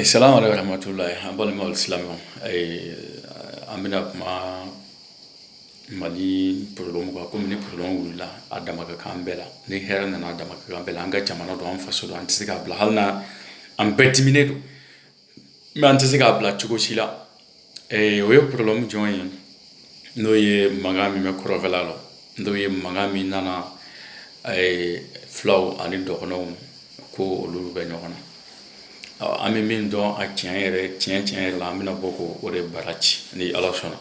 Salamu aleyikum warahmatulahi an balima silamɛ an bɛna kuma mali problème kan kɔmi ni problème wulila a dama ka kan bɛɛ la ni hɛrɛ nana a dama ka kan bɛɛ la an ka jamana don an faso don an tɛ se k'a bila hali na an bɛɛ diminen don mais an tɛ se k'a bila cogo si la Ee o ye problème jɔn ye n'o ye mankan min bɛ kɔrɔnfɛla la n'o ye mankan min nana fulaw ani dɔgɔnɔw ko olu bɛ ɲɔgɔn na an bɛ min dɔn a tiɲɛ yɛrɛ tiɲɛ tiɲɛ yɛrɛ la an bɛna bɔ ko o de bara ci ni ala sɔnna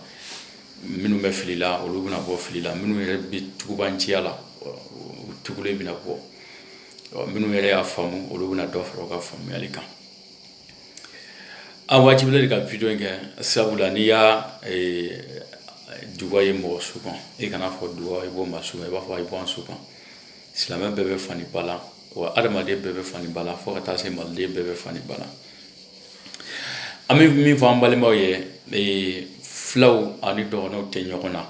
minnu bɛ fili la olu bɛna bɔ fili la minnu yɛrɛ bɛ tugubanciya la u tugu bɛna bɔ minnu yɛrɛ y'a faamu olu bɛna dɔ fara u ka faamuyali kan An wajibilen de ka video in kɛ sabu la n'i ye duga ye mɔgɔ su kan e kana fɔ duga i bɔ maa su kan i b'a fɔ i bɔ an su kan silamɛ bɛɛ bɛ fa ni ba la wa adamaden bɛɛ bɛ fa ni ba la fo ka taa se maliden bɛɛ bɛ fa ni ba la an bɛ min fɔ an balimaw ye fulaw ani dɔgɔnɔw tɛ ɲɔgɔn na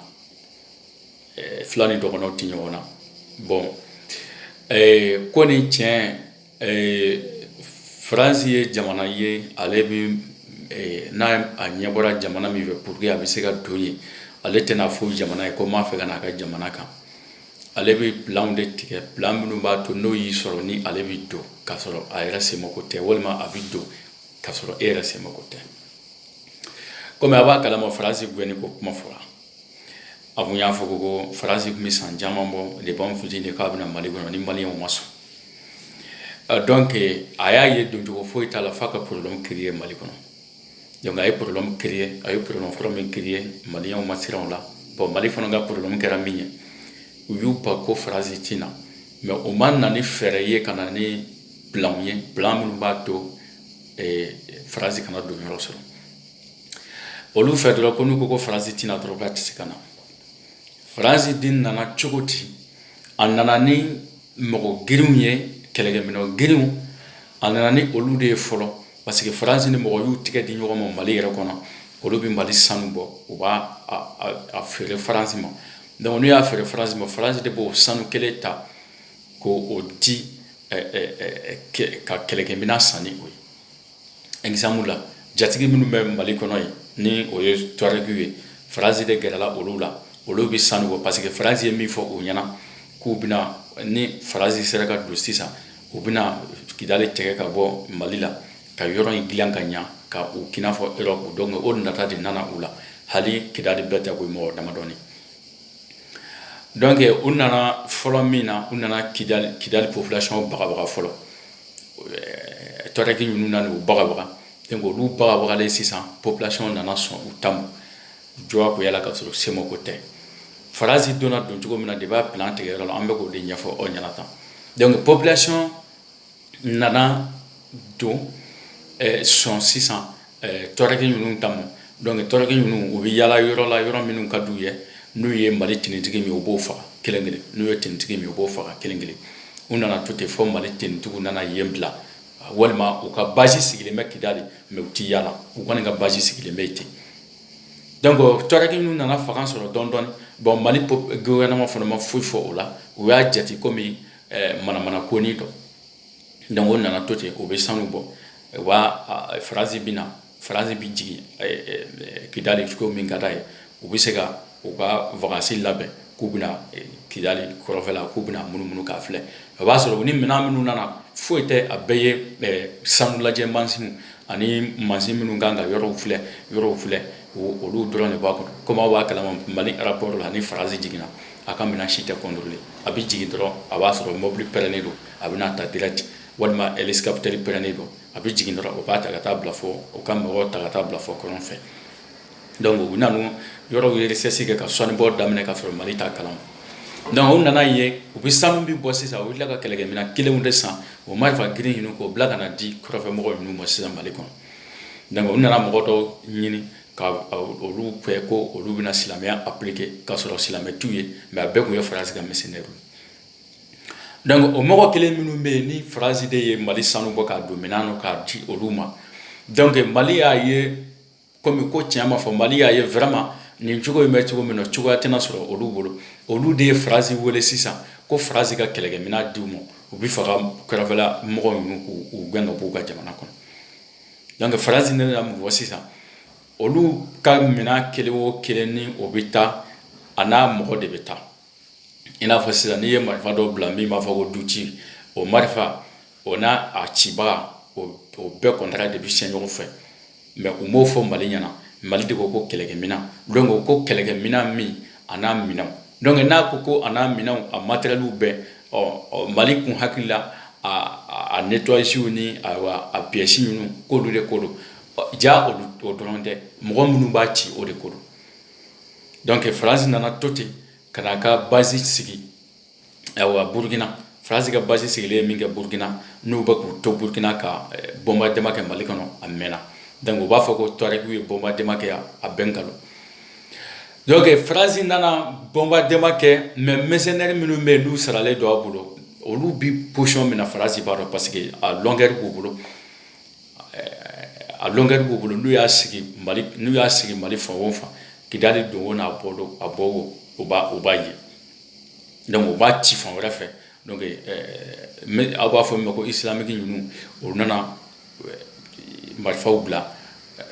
fula ni dɔgɔnɔw tɛ ɲɔgɔn na bɔn ko nin tiɲɛ Ɛɛ fransi ye jamana ye ale bɛ n'a a ɲɛ bɔra jamana min fɛ pour que a bɛ se ka don yen ale tɛna fɔ jamana ye ko n b'a fɛ ka n'a ka jamana kan ale bɛ plan de tigɛ plan minnu b'a to n'o y'i sɔrɔ ni ale bɛ don k'a sɔrɔ a yɛrɛ se mako tɛ walima a bɛ don k'a sɔrɔ e yɛrɛ se mako tɛ kɔmi a b'a kalama faransi gɛn ko kuma fɔra a tun y'a fɔ ko ko faransi tun bɛ san caman bɔ depuis an fitinin de k'a bɛna mali kɔnɔ ni mali ma sɔn donc a y'a ye doncogo foyi t'a la f'a ka problème créer mali kɔnɔ donc a ye problème créer a ye problème fɔlɔ min créer maliyɛnw ma siran o la bɔn mali fana ka problème kɛra min ye u y'u ban ko faransi tɛ na mais o ma na ni fɛɛrɛ ye ka na ni plan ye plan minnu b'a to faransi kana don yɔrɔ sɔrɔ olu fɛ dɔrɔn ko n'u ko ko faransi tɛna dɔrɔn k'a tɛ se ka na faransi den nana cogo di a nana ni mɔgɔ girinw ye kɛlɛkɛminɛn girinw a nana ni olu de ye fɔlɔ parce que faransi ni mɔgɔ y'u tigɛ di ɲɔgɔn ma mali yɛrɛ kɔnɔ olu bɛ mali sanu bɔ u b'a feere faransi ma donc n'u y'a feere faransi ma faransi de b'o sanu kelen ta k'o di ka kɛlɛkɛminɛn san ni o ye la jatigi minnu bɛ mali kɔnɔ ye ni o ye tuarɛgiw ye faransi de gɛrɛla olu la olu bɛ sanu bɔ parce que faransi ye min fɔ u ɲɛna k'u bɛna ni faransi sera ka don sisan u bɛna kidali tigɛ ka bɔ mali la ka yɔrɔ in dilan ka ɲa k'a kɛ i n'a fɔ Europe donc o nata de nana u la hali kidali bɛɛ tɛ ko mɔgɔ damadɔnin donc u nana fɔlɔ min na u nana kidali kidali population bagabaga fɔlɔ tuarɛgi ninnu nana u bagabaga donc olu bagabagalen sisan population nana sɔn u ta ma jagoya la ka sɔrɔ semako tɛ faransi donna don cogo min na de b'a plan tigɛyɔrɔ la an bɛ k'o de ɲɛfɔ aw ɲɛna tan donc population nana don eh, sɔn sisan tuarɛgi ninnu ta ma donc tuarɛgi ninnu u bɛ yaala yɔrɔ la yɔrɔ minnu ka d'u ye n'u ye mali finitigi min u b'o faga kelen kelen n'u ye finitigi min u b'o faga kelen kelen u nana to ten fɔ mali finitigiw nana yen bila walima u ka base sigilen bɛ kidali mais u tɛ yaala u kɔni ka base sigilen bɛ ten donc tuarɛgi ninnu nana fanga sɔrɔ dɔɔni dɔɔni bon mali gouvernement fana ma foyi fɔ o la u y'a jate komi manamana konin dɔ donc o nana to ten u bɛ sanu bɔ u b'a faransi bɛ na faransi bɛ jigin kidali cogo min ka d'a ye u bɛ se ka u ka vacances labɛn k'u bɛna kidali kɔrɔnfɛla k'u bɛna munumunu k'a filɛ o b'a sɔrɔ u ni minɛn minnu nana foyi tɛ a bɛɛ ye sanu lajɛ mansinw ani mansin minnu kan ka yɔrɔw filɛ yɔrɔw filɛ olu dɔrɔn de b'a kɔnɔ komi aw b'a kalama mali aéroport la ni faransi jiginna a ka minɛn si tɛ contrôler a bɛ jigin dɔrɔn a b'a sɔrɔ mobili pɛrɛnnen don a bɛ n'a ta direct walima hélicoptère pɛrɛnnen don a bɛ jigin dɔrɔn o b'a ta ka taa bila fɔ o ka mɔgɔw ta ka taa bila fɔ kɔrɔn fɛ donc u nana yɔrɔw recherche kɛ ka sanubɔ daminɛ ka sɔrɔ mali t'a kalama donc u nana ye u bɛ sanu bɛ bɔ sisan u tila ka kɛlɛkɛminɛn kelen de san o ma marifa girin ninnu k'o bila ka n'a di kɔrɔnfɛmɔgɔ ninnu ma sisan mali kɔnɔ donc u nana mɔgɔ dɔw ɲini ka olu ko olu bɛna silamɛya appliquer ka sɔrɔ silamɛ t'u ye mais a bɛɛ tun ye faransi ka mercenaires donc o mɔgɔ kelen minnu bɛ yen ni faransi de ye mali sanu bɔ k'a don minɛn na k'a di olu ma donc mali y'a ye komi ko tiɲɛ ma fɔ mali y'a ye vraiment nin cogo in bɛ cogo min na cogoya tɛna sɔrɔ olu bolo olu de ye faransi wele sisan ko faransi ka kɛlɛkɛminɛn d'u ma u bɛ fɛ ka kɔrɔnfɛla mɔgɔ ninnu k'u gɛn ka b'u ka jamana kɔnɔ donc faransi nana mun fɔ sisan olu ka minɛn kelen o kelen ni o bɛ taa a n'a mɔgɔ de bɛ taa i n'a fɔ sisan n'i ye marifa dɔ bila min b'a fɔ ko du ci o marifa o n'a a cibaga o bɛɛ contrat de bɛ signer ɲɔgɔn fɛ mais u m'o fɔ mali ɲɛna mali de ko ko kɛlɛkɛminɛn donc ko kɛlɛkɛminɛn min a n'a minɛn donc n'a ko ko a n'a minɛn a matériels bɛɛ ɔ mali tun hakili la a nettoyage ni a pièces ninnu k'olu de ko don ja o dɔrɔn tɛ mɔgɔ minnu b'a ci o de ko don donc farasi nana to ten ka n'a ka basi sigi burukina farasi ka basi sigilen min kɛ burukina n'u bɛ k'u to burukina ka bombardement kɛ mali kɔnɔ a mɛn donc u b'a fɔ ko touaregw ye bombardement kɛ yan a bɛɛ nkalon donc farasi nana bombardement kɛ mais mercenaires minnu bɛ yen n'u saralen don a bolo olu bɛ position min na farasi b'a dɔn parce que a longueur b'u bolo a longueur b'u bolo n'u y'a sigi mali fan o fan kidali don o n'a bɔ don a bɔ o u b'a ye donc u b'a ci fan wɛrɛ fɛ donc aw b'a fɔ min ma ko islamique ninnu o nana marifaw bila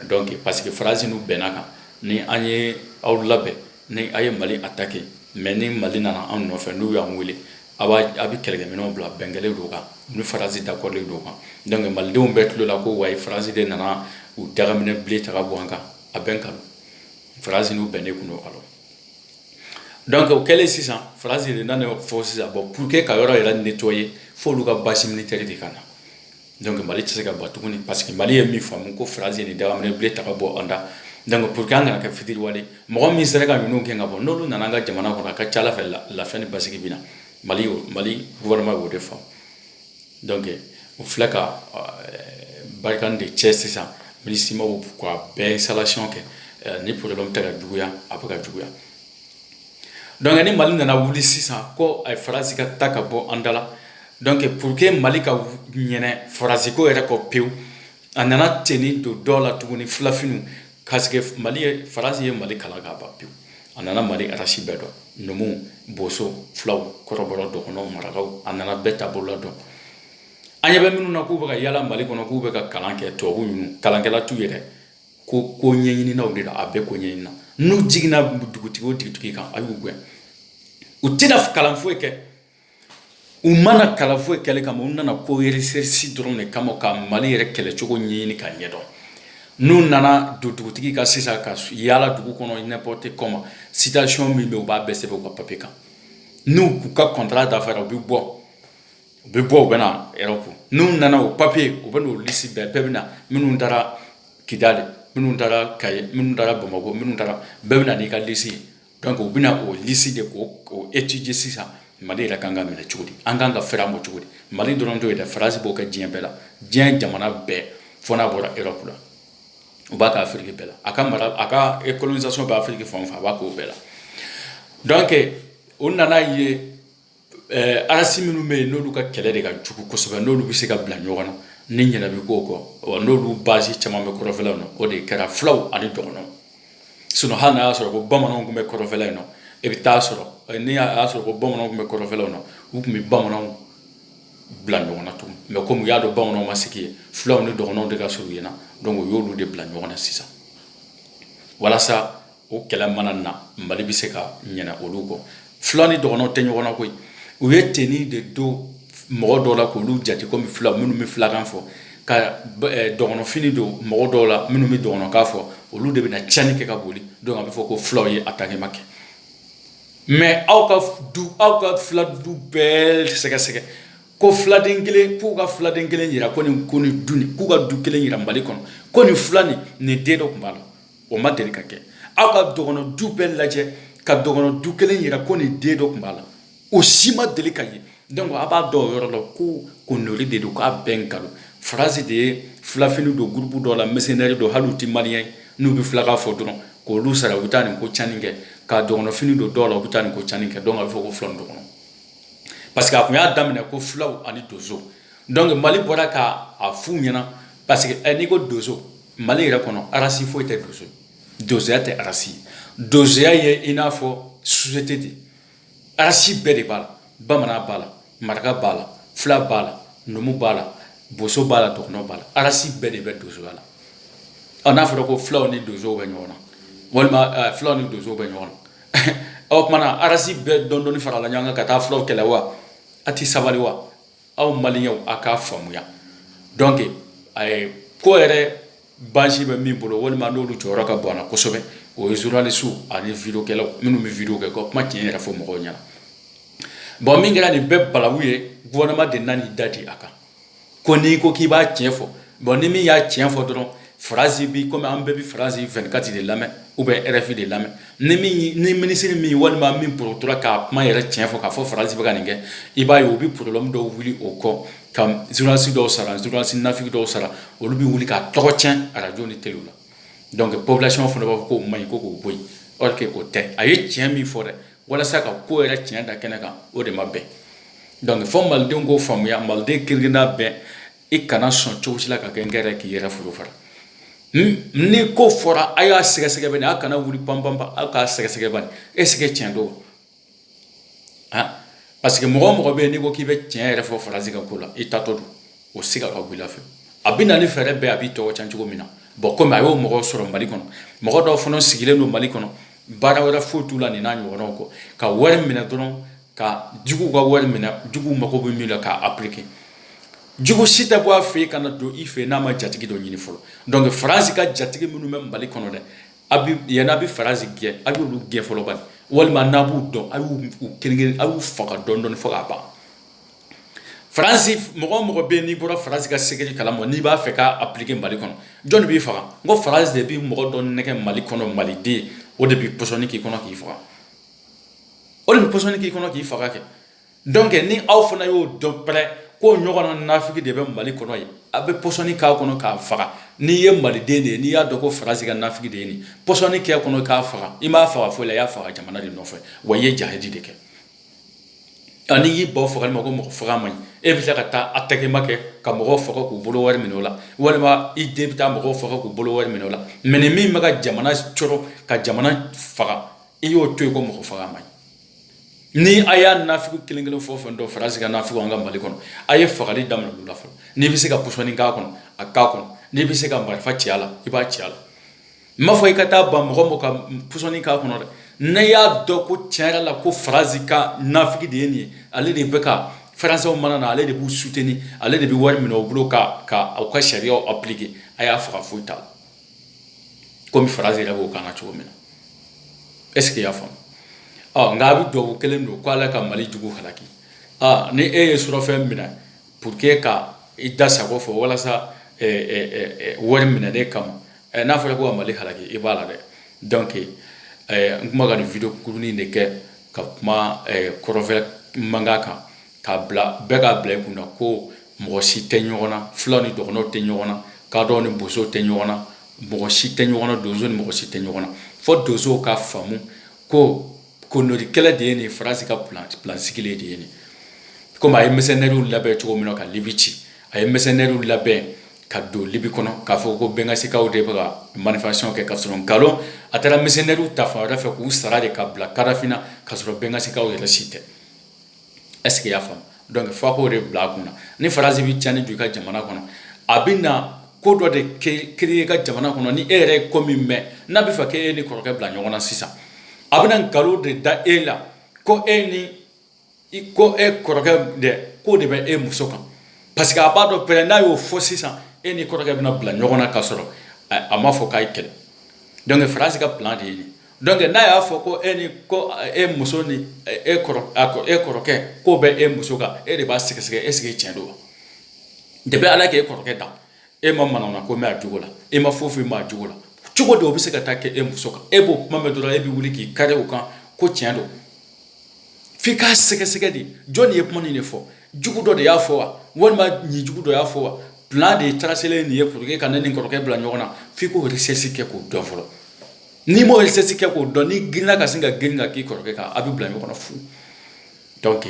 donc parce que faransi n'u bɛnna kan ni an ye aw labɛn ni aw ye mali attaquer mais ni mali nana anw nɔfɛ n'u y'an wele a a bɛ kɛlɛkɛminɛnw bila bɛn kɛlen don kan ni farasi d'accordlen don kan donc malidenw bɛɛ tulo la ko wa farasi de nana u dagaminɛ bilen ta ka bɔ an kan a bɛɛ nkalon farasi n'u bɛnnen tun don alors donc o kɛlen sisan farasi de nana fɔ sisan bon pour que ka yɔrɔ yɛrɛ nettoyer fo olu ka basi militaire de ka na donc mali tɛ se ka ban tuguni parce que mali ye min faamu ko faransi ye nin dagaminɛ bilen ta ka bɔ an da donc pour que an kana kɛ fitiriwale mɔgɔ min sera ka ninnu gɛn ka bɔ n'olu nana an ka jamana kɔnɔ a ka ca ala fɛ lafiya ni basigi bɛ na mali mali gouvernement y'o de faamu donc u filɛ ka barkhane de cɛ sisan minusmaw k'a bɛɛ installation kɛ ni problème tɛ ka juguya a bɛ ka juguya donc ni mali nana wuli sisan ko ayi farasi ka taa ka bɔ an da la donc pour que mali ka ɲinɛ farasi ko yɛrɛ kɔ pewu a nana teni don dɔ la tuguni filafiniw parce que mali ye farasi ye mali kalan k'a ban pewu a nana mali race bɛɛ dɔn numuw boso fulaw kɔrɔbɔrɔ dɔgɔnɔw marakaw a nana bɛɛ taabolo la dɔn an ɲɛ bɛ minnu na k'u bɛ ka yala mali kɔnɔ k'u bɛ ka kalan kɛ tubabu ninnu kalankɛla t'u yɛrɛ ko ko ɲɛɲininaw de don a bɛɛ ko ɲɛɲinina n'u jiginna dugutigi o dugutigi kan a y'u gɛn u tɛna kalan foyi kɛ u ma na kalan foyi kɛli kama u nana ko recherche dɔrɔn de kama ka mali yɛrɛ kɛlɛcogo ɲɛɲini k'a ɲɛdɔn n'u nana don dugutigi ka sisan ka yaala dugu kɔnɔ n'importe comment situation min bɛ u b'a bɛɛ sɛbɛn u ka papier kan n'u k'u ka contrat dafara u bɛ bɔ u bɛ bɔ u bɛ na europe n'u nana o papier u bɛ n'o lisi bɛɛ bɛɛ bɛ na minnu taara kidali minnu taara kayi minnu taara bamakɔ minnu taara bɛɛ bɛ na n'i ka lisi ye donc u bɛna o lisi de k'o étudier sisan mali yɛrɛ kan ka minɛ cogo di an kan ka fɛɛrɛ ma cogo di mali dɔrɔn t'o ye dɛ farasi b'o kɛ diɲɛ bɛɛ la diɲɛ jamana bɛɛ fo n'a bɔra europe la u b'a kɛ afiriki bɛɛ la a ka mara a ka e colonisation bɛ afiriki fan o fan a b'a k'o bɛɛ la donc o nana ye Ɛɛ arasi minnu bɛ yen n'olu ka kɛlɛ de ka jugu kosɛbɛ n'olu bɛ se ka bila ɲɔgɔn na ni ɲɛ bɛ ko kɔ wa n'olu basi caman bɛ kɔrɔfɛla na o de kɛra fulaw ani dɔgɔnw sinɔn hali n'i y'a sɔrɔ ko bamananw tun bɛ kɔrɔfɛla in na e bɛ taa sɔrɔ n'i y'a sɔrɔ ko bamananw tun bɛ kɔrɔfɛla na u tun bɛ bamananw bila ɲɔgɔn na tugun mɛ kɔmi u y'a dɔn bamananw ma sigi yen fulaw ni dɔgɔnw de ka surun yen na dɔnku u y'olu de bila ɲɔgɔn na sisan walasa o kɛlɛ mana na mali bɛ se ka ɲɛ olu kɔ fula ni dɔgɔn tɛ ɲɔgɔn na koyi u ye fini de don mɔgɔ dɔw la k'olu jate kɔmi fila minnu bɛ filakan fɔ ka dɔgɔnfini don mɔgɔ dɔw la minnu bɛ dɔgɔnkan fɔ olu de bɛ cani kɛ ka boli dɔnku a bɛ fɔ ko fulaw ye atakima kɛ mɛ aw ka aw ka fila du bɛɛ sɛgɛsɛgɛ ko filaden kelen k'u ka filaden kelen jira ko nin ko nin du k'u ka du kelen jira mali kɔnɔ ko nin fila nin nin den dɔ tun b'a la o ma deli ka kɛ aw ka dɔgɔn du bɛɛ lajɛ ka dɔgɔn du kelen jira ko nin den dɔ tun b'a la o si ma deli ka ye dɔnku a b'a dɔn o yɔrɔ la ko ko n de don k'a bɛɛ nkalon Faransi de ye filafini don gurubu dɔ la mɛrisenɛri don hali u tɛ maliyɛn ye n'u bɛ filakan fɔ dɔrɔn k'olu sara u bɛ taa nin ko cani kɛ ka dɔgɔnfini don dɔw la u bɛ taa nin ko cani kɛ dɔnku a bɛ fɔ ko fula ni dɔgɔnɔ parce que a tun y'a daminɛ ko fulaw ani donso dɔnku mali bɔra k'a f'u ɲɛna parce que n'i ko donso mali yɛrɛ kɔnɔ arasi foyi tɛ donso donsoya tɛ arasi donsoya ye i n'a fɔ sosiyete de arasi bɛɛ de b'a la bamanan b'a la maraka b'a la fila b'a la numu b'a la boso b'a la dɔgɔnɔ b'a la arasi bɛɛ de bɛ donsoya la ɔ n'a fɔra ko fulaw ni donsow bɛ ɲɔgɔn na walima eh, fulaw ni donsow bɛ ɲɔgɔn na o kuma na arasi bɛɛ dɔɔnin dɔɔnin farala ɲɔgɔn kan ka taa fulaw kɛlɛ wa a ti sabali wa aw maliyɛnw aw k'a faamuya dɔnku ko yɛrɛ basi bɛ min bolo walima n'olu jɔyɔrɔ ka bon a la kosɛbɛ o ye zurunalisiw ani videwokɛlaw minnu bɛ videwo kɛ ka kuma tiɲɛ yɛrɛ fɔ mɔgɔw ɲɛna bɔn min kɛra nin bɛɛ balawu ye gofɛrɛnaman de nana i da di a kan ko n'i ko k'i b'a tiɲɛ fɔ bɔn ni min y'a tiɲɛ fɔ dɔrɔn Faransi bi kɔmi an bɛɛ bɛ Faransi vɛnkati de lamɛn ubiyɛn RFI de lamɛn ni ni minisiri min walima min porotora k'a kuma yɛrɛ tiɲɛ fɔ k'a fɔ Faransi bɛ ka nin kɛ i b'a ye u bɛ porobulɛmu dɔw wuli o kɔ ka zurunalisi dɔw sara zurunalisi nafiki dɔw sara olu bɛ wuli k'a tɔgɔ cɛn arajo ni tele la dɔnku popilasɔn fana b'a fɔ k'o man ɲi ko k'o bɔ yen o tɛ a ye tiɲɛ min fɔ dɛ walasa ka ko yɛrɛ tiɲɛ da kɛnɛ kan o de ma bɛn dɔnku fo malidenw k'o faamuya maliden kirinna bɛɛ i kana sɔn cogo si la ka kɛ n yɛrɛ k'i yɛrɛ furu fara ni ko fɔra a y'a sɛgɛsɛgɛ ban a kana wuli panpanpa aw k'a sɛgɛsɛgɛ ban ɛsike tiɲɛ don wa parce que mɔgɔ o mɔgɔ bɛ yen n'i ko k'i bɛ tiɲɛ yɛrɛ fɔ Faransi ka ko la i tatɔ don o siga ka bɔ i la fewu a bɛ na ni fɛɛrɛ bɛɛ a b'i tɔgɔ cɛn cogo min na bɔn kɔmi a y'o mɔgɔ sɔrɔ mali kɔnɔ mɔgɔ dɔw fana sigilen don mali kɔnɔ baara wɛrɛ foyi t'u la nin n'a ɲɔgɔnw kɔ ka wari minɛ dɔrɔn ka jugu ka wari minɛ jugu mago bɛ min na k'a appliquer jugu si tɛ bɔ a fɛ yen ka na don i fɛ n'a ma jatigi dɔ ɲini fɔlɔ donc faransi ka jatigi minnu bɛ mali kɔnɔ dɛ yann'a bɛ faransi gɛn a y'olu gɛn fɔlɔ bani walima n'a b'u dɔn a y'u kelen a y'u faga dɔɔni dɔɔni fo k'a ban faransi mɔgɔ o mɔgɔ bɛ yen n'i bɔra faransi ka secret kalama n'i b'a fɛ k'a appliquer mali kɔnɔ jɔn de b'i faga ko faransi de bɛ mɔgɔ dɔ nɛgɛn mali kɔnɔ maliden o de bɛ pɔsɔni k'i kɔnɔ k'i faga o de bɛ pɔsɔni k'i kɔnɔ k'i faga kɛ donc ni aw fana y'o dɔn pɛrɛ ko ɲɔgɔnna nafiki de bɛ mali kɔnɔ ye a bɛ pɔsɔni k'a kɔnɔ k'a faga n'i ye maliden de ye n'i y'a dɔn ko faransi ka nafiki de ye nin pɔsɔni k'a kɔnɔ k'a faga i m'a faga foyi la i y'a faga jamana de nɔfɛ wa i ye jihadi de kɛ nka n'i y'i ban u fagali ma ko mɔgɔ faga man ɲi e bɛ se ka taa a tɛgɛma kɛ ka mɔgɔw faga k'u bolo wari minɛ o la walima i den bɛ taa mɔgɔw faga k'u bolo wari minɛ o la mais ni min bɛ ka jamana tɔɔrɔ ka jamana faga i y'o to yen ko mɔgɔ faga man ɲi ni a y'a nafiki kelen kelen fɛn o fɛn dɔn faransi ka nafiki an ka mali kɔnɔ a ye fagali daminɛ olu la fɔlɔ n'i bɛ se ka pɔsɔni k'a kɔnɔ a k'a kɔnɔ n'i bɛ se ka marifa ci a la i b'a ci a la n m'a fɔ i ka taa ban mɔgɔ mɔgɔ ka pɔsɔni k'a kɔnɔ dɛ n'e y'a dɔn ko tiɲɛ yɛrɛ la ko faransi ka nafiki de ye nin ye ale de bɛ ka faransɛw mana na ale de b'u soutenir ale de bɛ wari minɛ u bolo ka ka aw ka sariyaw appliquer a y'a faga foyi t'a la kɔmi faransi yɛrɛ b'o kan na cogo min na est ce que i y'a faamu ɔ nka a bɛ dubabu kelen don ko ala ka mali jugu halaki aa ni e ye surɔfɛn minɛ pour que ka i da sago fɔ walasa wari minɛnen kama n'a fɔra ko ka mali halaki i b'a la dɛ donc n kuma ka nin video kurunin de kɛ ka kuma kɔrɔfɛ mankan kan k'a bila bɛɛ k'a bila i kun na ko mɔgɔ si tɛ ɲɔgɔn na fulaw ni dɔgɔnɔw tɛ ɲɔgɔn na kadɔw ni bosow tɛ ɲɔgɔn na mɔgɔ si tɛ ɲɔgɔn na donso ni mɔgɔ si tɛ ɲɔgɔn na fo donso ka faamu ko koloni kɛlɛ de ye nin faransi ka plan sigilen de ye nin komi a ye mercenaires labɛn cogo min na ka libi ci a ye mercenaires labɛn ka don libi kɔnɔ k'a fɔ ko bɛngazikaw de bɛ ka manifestation kɛ ka sɔrɔ nkalon a taara mercenaires ta fan wɛrɛ fɛ k'u sara de ka bila kadafi na ka sɔrɔ bɛngazikaw yɛrɛ si tɛ est ce que i y'a faamu donc f'a k'o de bila a kun na ni faransi bɛ tiɲɛni don i ka jamana kɔnɔ a bɛ na ko dɔ de créer i ka jamana kɔnɔ ni e yɛrɛ ye ko min mɛn n'a bɛ fɛ k' e ni kɔrɔkɛ bila ɲɔgɔn na sisan a bɛ nkalon de da e la ko e ni i ko e kɔrɔkɛ dɛ k'o de bɛ e muso kan parce que a b'a dɔn pɛrɛ n'a y'o fɔ sisan e ni kɔrɔkɛ bɛna bila ɲɔgɔn na ka sɔrɔ a m'a fɔ k'a ye kɛlɛ donc faransi ka de ye Donc n'a y'a fɔ ko e ni ko e muso ni e kɔrɔkɛ k'o bɛ e muso kan e de b'a sɛgɛsɛgɛ est-ce que tiɲɛ don depuis ala k'e kɔrɔkɛ dan e ma manamana ko mɛn a jogo la e ma foyi foyi mɛn a jogo la cogo di o bɛ se ka taa kɛ e muso kan e b'o kuma mɛn dɔrɔn e bɛ wuli k'i kari o kan ko tiɲɛ don f'i k'a sɛgɛsɛgɛ de jɔn de ye kuma de fɔ jugu dɔ de y'a fɔ wa walima nin jugu dɔ y'a fɔ wa plan de tracelen nin ye pour que ka ne ni kɔrɔkɛ bila ɲɔgɔn na f'i k'o recherche kɛ k'o dɔn fɔlɔ N'i m'o recherche kɛ k'o dɔn n'i girinna ka sin ka girin ka k'i kɔrɔkɛ kan a bɛ bila ɲɔgɔn na fu donc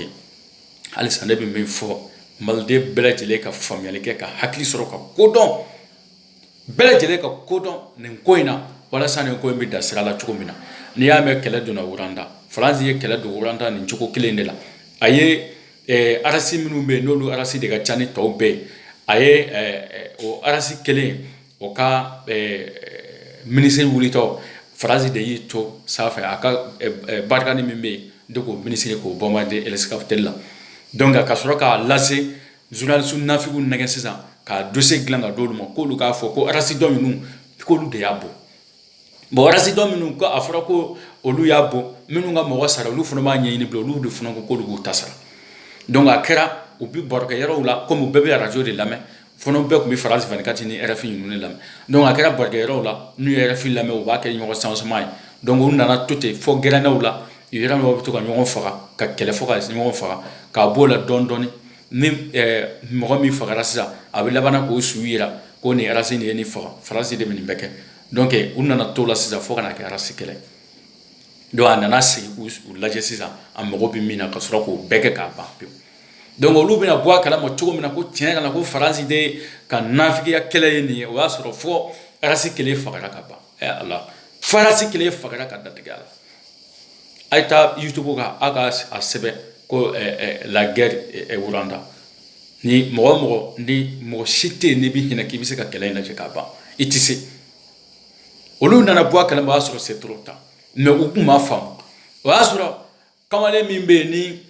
halisa ne bɛ min fɔ maliden bɛɛ lajɛlen ka faamuyali kɛ ka hakili sɔrɔ ka kodɔn bɛɛ lajɛlen ka kodɔn nin ko in na walasa nin ko in bɛ da sira la cogo min na n'i y'a mɛn kɛlɛ donna Rwanda Faransi ye kɛlɛ don Rwanda nin cogo kelen de la a ye eh, arasi minnu bɛ yen n'olu arasi de ka ca ni tɔw bɛɛ ye a ye eh, eh, o arasi kelen o ka minisiri wulitɔ Faransi de y'i to sanfɛ a ka Barkhane min bɛ yen de k'o minisiri k'o bombarder hélicoptère la donc ka sɔrɔ k'a lase journaliste nafigiw nɛgɛn sisan ka dossier dilan ka d'olu ma k'olu k'a fɔ ko arasi dɔ ninnu k'olu de y'a bon bon arasi dɔ minnu ko a fɔra ko olu y'a bon minnu ka mɔgɔ sara olu fana b'a ɲɛɲini bila olu de fana ko k'olu b'u ta sara donc a kɛra u bi barokɛ yɔrɔw la komi u bɛɛ bɛ arajo de lamɛn fɔlɔ bɛɛ tun bɛ France vingt-quatre ni rfi ninnu de lamɛn donc a kɛra barokɛ yɔrɔw la n'u ye rfi lamɛn u b'a kɛ ɲɔgɔn sansoma ye donc u nana to ten fo gɛrɛnnaw la yɔrɔ dɔw bɛ to ka ɲɔgɔn faga ka kɛlɛ fo ka ɲɔgɔn faga k'a b'o la dɔɔni dɔɔni ni mɔgɔ min fagara sisan a bɛ laban k'o su yira ko nin arasi nin ye nin faga Faransi de bɛ nin bɛɛ kɛ donc u nana to la sisan fo ka na kɛ arasi kɛlɛ donc a nana sigi k'u lajɛ sisan a mago bɛ min na ka sɔrɔ k'o bɛɛ kɛ k'a ban pewu donc olu bɛna bɔ a kalama cogo min na ko tiɲɛ yɛrɛ la ko Faransi de ka nafigiya kɛlɛ ye nin ye o y'a sɔrɔ fo arasi kelen fagara ka ban ɛ ala fo arasi kelen fagara ka datigɛ a la a ye taa YouTube kan a ka a sɛbɛn ko la guerre Rwanda ni mɔgɔ mɔgɔ ni mɔgɔ si tɛ yen n'i bɛ hinɛ k'i bɛ se ka kɛlɛ in lajɛ k'a ban i tɛ se olu nana bɔ a kalama o y'a sɔrɔ c'est trop tard mais u tun m'a faamu o y'a sɔrɔ kamalen min bɛ yen ni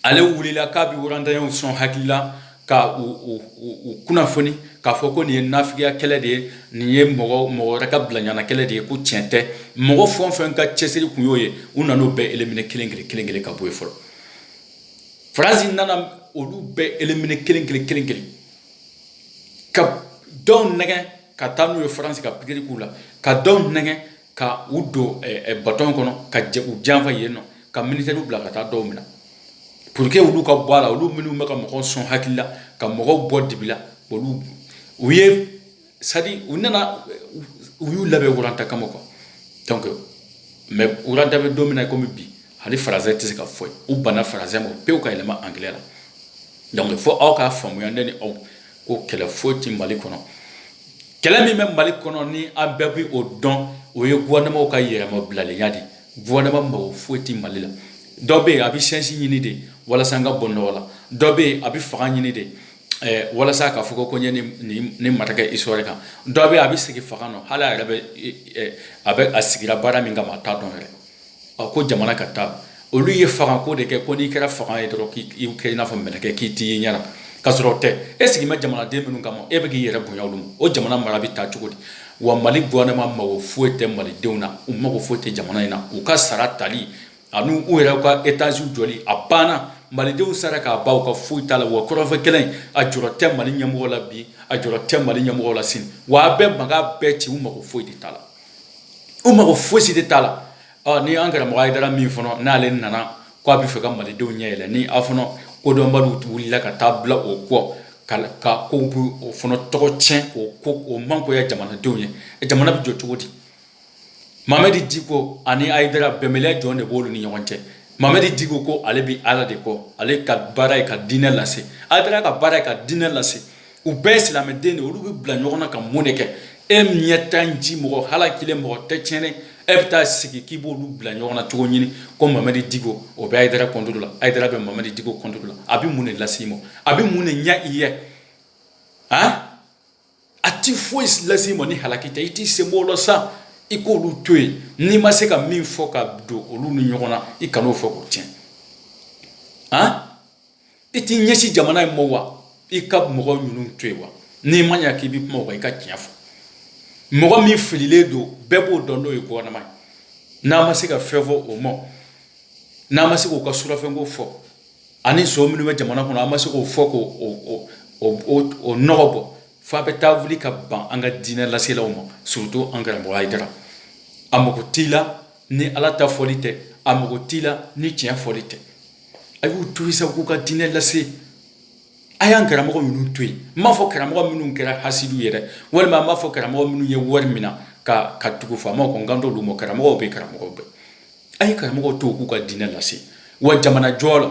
ale wulila k'a bɛ Rwandayɛnw sɔn hakili la ka u u u kunnafoni k'a fɔ ko nin ye nafigiya kɛlɛ de ye nin ye mɔgɔ mɔgɔ wɛrɛ ka bilaɲana kɛlɛ de ye ko tiɲɛ tɛ mɔgɔ fɛn o fɛn ka cɛsiri kun y'o ye u nana o bɛɛ éliminer kelen kelen kelen kelen ka bɔ yen fɔlɔ faransi nana olu bɛɛ éliminer kelen kelen kelen kelen ka dɔw nɛgɛn ka taa n'u ye faransi ka pikiri k'u la ka dɔw nɛgɛn ka u don bato kɔnɔ ka u janfa yen nɔ ka militaires bila ka taa dɔw minɛ pour que olu ka bɔ a la olu minnu bɛ ka mɔgɔw sɔn hakili la ka mɔgɔw bɔ dibi la olu u ye sa u nana u y'u labɛn Rwanda kama quoi mais Rwanda bɛ don min na kɔmi bi hali français tɛ se ka fɔ u banna français ma pewu ka yɛlɛma anglais la fo aw k'a faamuya ne ni aw ko kɛlɛ foyi tɛ mali kɔnɔ kɛlɛ min bɛ mali kɔnɔ ni an bɛɛ bɛ o dɔn o ye gouvernement ka yɛrɛmabilalenya de gouvernement mago foyi tɛ mali la dɔ bɛ yen a bɛ chance ɲini de walasa an ka bɔ nɔgɔ la dɔ bɛ yen a bɛ fanga ɲini de Eh, walasa k'a fɔ ko n ye nin marquer histoire kan dɔ bɛ yen a bɛ sigi fanga nɔ hali a yɛrɛ bɛ eh, eh, a bɛ a sigira baara min kama a t'a dɔn yɛrɛ a ko jamana ka taa olu ye fanga ko de kɛ ko n'i kɛra fanga ye dɔrɔn k'i kɛ i n'a fɔ mɛlɛkɛ k'i t'i ye ɲɛna ka sɔrɔ o tɛ e sigi bɛ jamanaden minnu kama e bɛ k'i yɛrɛ bonya olu ma o jamana mara bɛ taa cogo di wa mali gouvernement mago foyi tɛ malidenw na u mago foyi tɛ jamana in na u ka sara tali ani u yɛrɛ ka étage jɔli a banna malidenw sara k'a ban u ka foyi t'a la wa kɔrɔnfɛ kɛlɛ a jɔrɔ tɛ mali ɲɛmɔgɔ la bi a jɔrɔ tɛ mali ɲɛmɔgɔ la sini wa a bɛɛ mankan bɛɛ ci u mago foyi de t'a la u mago fosi de t'a la ɔ ni an karamɔgɔ ayidara min fana n'ale nana ko a bɛ fɛ ka malidenw ɲɛ yɛlɛ ni aw fana kodɔnbaliw wulila ka taa bila o kɔ ka ka k'aw bɛ o fana tɔgɔ tiɲɛ k'o ko mangoya jamanadenw ye jamana bɛ jɔ cogo di mamadi diko ani ayidara bɛnbaliya jɔn de b'olu ni ɲɔgɔn cɛ mamadi diko ko ale bɛ ala de kɔ ale ka baara ye ka diinɛ lase ayidara ka baara ye ka diinɛ lase u bɛɛ silamɛden de olu bɛ bila ɲɔgɔn na ka mun de kɛ e ɲɛ tan ji mɔgɔ halakilen mɔgɔ tɛ tiɲɛnen e bɛ taa sigi k'i b'olu bila ɲɔgɔn na cogo ɲini ko mamadi diko o bɛ ayidara contre la ayidara bɛ mamadi diko contre la a bɛ mun de lase i ma a bɛ mun de ɲɛ i ye a a tɛ foyi lase i ma ni halaki tɛ i t'i sen bɔ o la sa i k'olu to yen n'i ma se ka min fɔ ka don olu ni ɲɔgɔn na i kana o fɔ k'o tiɲɛ a i t'i ɲɛsin jamana in ma wa i ka mɔgɔ ninnu to yen wa n'i ma ɲa k'i bɛ kuma o kan i ka tiɲɛ fɔ mɔgɔ min fililen don bɛɛ b'o dɔn n'o ye gouvernement ye n'a ma se ka fɛn fɔ o ma n'a ma se k'o ka surafɛnko fɔ ani son minnu bɛ jamana kɔnɔ a ma se k'o fɔ k'o nɔgɔ bɔ f'a bɛ taa wuli ka ban an ka diinɛ laselaw ma surtout an karamɔgɔ Ayidara a mago t'i la ni ala ta fɔli tɛ a mago t'i la ni tiɲɛ fɔli tɛ a y'u to sa k'u ka diinɛ lase a y'an karamɔgɔ ninnu to yen n m'a fɔ karamɔgɔ minnu kɛra hasidiw ye dɛ walima n m'a fɔ karamɔgɔ minnu ye wari mina ka ka tugu faamaw kɔ n kan t'olu ma karamɔgɔ bɛ karamɔgɔ bɛɛ a ye karamɔgɔ to k'u ka diinɛ lase wa jamana jɔ la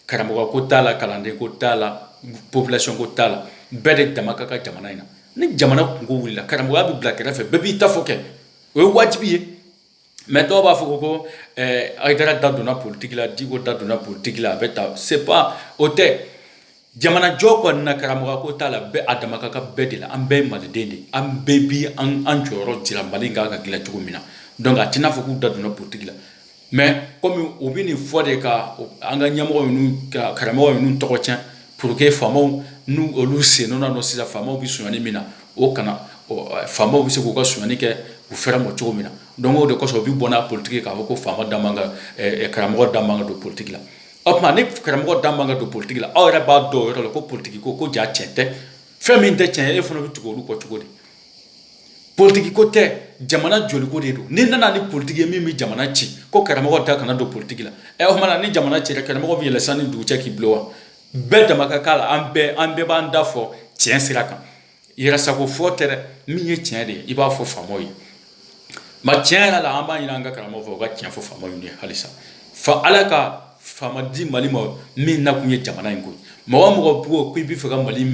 karamɔgɔ ko t'a la kalanden ko t'a la population ko t'a la bɛɛ de dama ka kan jamana in na ni jamana kunko wulila karamɔgɔya bɛ bila kɛrɛfɛ bɛɛ b'i ta fɔ kɛ o ye wajibi ye mais dɔw b'a fɔ ko ko eh, hayidara da donna politiki la diko da donna politiki la a bɛ ta c'est pas o tɛ jamanajɔ kɔni na karamɔgɔ ko t'a la bɛɛ a dama ka kan bɛɛ de la an bɛɛ ye maliden de an bɛɛ bi an jɔyɔrɔ jira mali kan ka dilan cogo min na donc a tɛna fɔ k'u da donna politiki la mais kɔmi u bɛ nin fɔ de ka an ka ɲɛmɔgɔ karamɔgɔ ninnu tɔgɔ tiɲɛ pour que faamaw n' olu sen nɔ don sisan faamaw bɛ sonyani min na o kana faamaw bɛ se k'u ka sonyani kɛ u fɛrɛ ma cogo min na donc o de kosɔn u bɛ bɔ n'a politigi k'a fɔ ko faama da karamɔgɔ da man kan ka don politigi la o tuma ni karamɔgɔ da man kan ka don politigi la aw yɛrɛ b'a dɔn o yɔrɔ la ko politigi ko ko ja tiɲɛ tɛ fɛn min tɛ tiɲɛ ye e fana bɛ tugu olu kɔ cogo di politigi ko tɛ jamana joliko de don ni nana ni politigi ye min bɛ jamana ci ko karamɔgɔ da kana don politigi la ɛ o tuma ni jamana cira karamɔgɔ bɛ yɛlɛ san ni dugu cɛ k'i bilon wa bɛɛ dama ka k'a la an bɛɛ an bɛɛ b'an da fɔ tiɲɛ sira kan yɛrɛsago fɔ tɛ dɛ min ye tiɲɛ de ye i b'a fɔ faamaw ye mais tiɲɛ yɛrɛ la an b'a ɲini an ka karamɔgɔ fɛ u ka tiɲɛ fɔ faamaw ye halisa fa ala ka faama di mali ma min nakun ye jamana in ko mɔgɔ o mɔgɔ b'o ko i b'a fɛ ka mali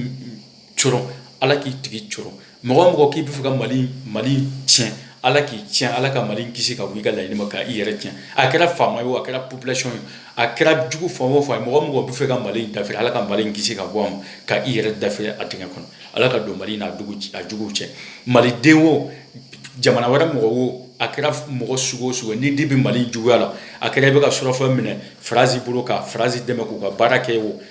cɔrɔ ala k'i tigi cɔrɔ mɔgɔ o mɔgɔ k'i b'a fɛ ka mali mali tiɲɛ ala k'i tiɲɛ ala ka mali kisi ka bɔ i ka laɲini ma k' i yɛrɛ tiɲɛ a kɛra faama ye o a kɛra population ye a kɛra jugu fan o fan ye mɔgɔ o mɔgɔ b'a fɛ ka mali in dafiri ala ka mali in kisi ka bɔ a ma ka i yɛrɛ dafiri a dingɛ kɔnɔ ala ka don mali n'a jugu a juguw cɛ maliden o jamana wɛrɛ mɔgɔ o a kɛra mɔgɔ sugu o sugu n'i de bɛ mali juguya la a kɛra i bɛ ka surafɛn minɛ faransi bolo ka faransi dɛmɛ k'u ka baara kɛ o